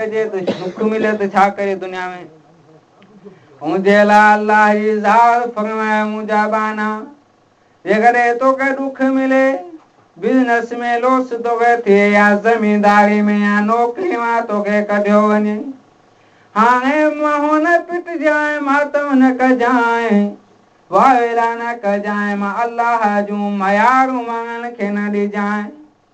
چئجي ته سک ملي ته ڇا ڪري دنيا ۾. ان جي لاء الله جي ذات فرمائي منهنجا ٻانها جيڪڏهن توکي ڏک ملي، بزنس ۾ لوس توکي ٿئي يا زمينداري ۾ يا نوڪري مان توکي ڪڍيو وڃي، هاڻي منهن نه پٽجانء، ماتم نه ڪجانء، واويلا نه ڪجانء، مان الله جون ميارون ماڻهن کي نه ڏجانء.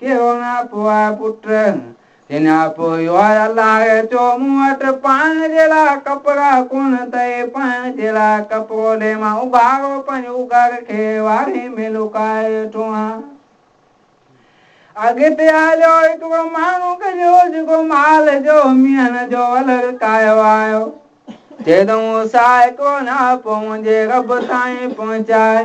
ڪيو نه پوء پٽ، ڪنھن اپو اھو آھي الله چو مون وٽ پائڻ جي لاء ڪپڙا ڪونھن ته اي پائڻ جي لاء ڪپڙو ڏي مان اگھاڙو پنھنجي اگھڙ کي واڙي ۾ لڪائي ويٺو آھيان. اڳتي ھليو ھڪڙو ماڻھو گڏيو جيڪو مال جو مينھن جو ولر ڪايو آيو. چيو ته مون ساھه ھڪڙو نه اپو منھنجي رب تائين پھچائي.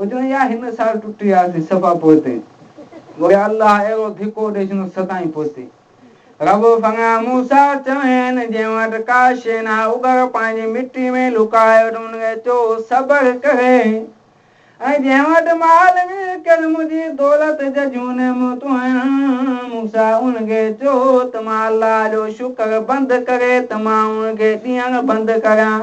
هجڻ يا هن سال ٽٽي آسي صفا پوئتي گهري الله اهڙو ڌڪو ڏئي ڇڏيو ستائين پوئتي رب فڱا موسيٰ چوين جنهن وٽ ڪا شيء نه آهي اوگر پنهنجي مٽي ۾ لڪائي وٺ ان کي چئو صبر ڪري ۽ جنهن وٽ مال هجي ڪر منهنجي دولت ججهون نعمتون آهن موسيٰ ان کي چئو ته مان الله جو شڪر بند ڪري ته مان ان کي ڏيڻ بند ڪريان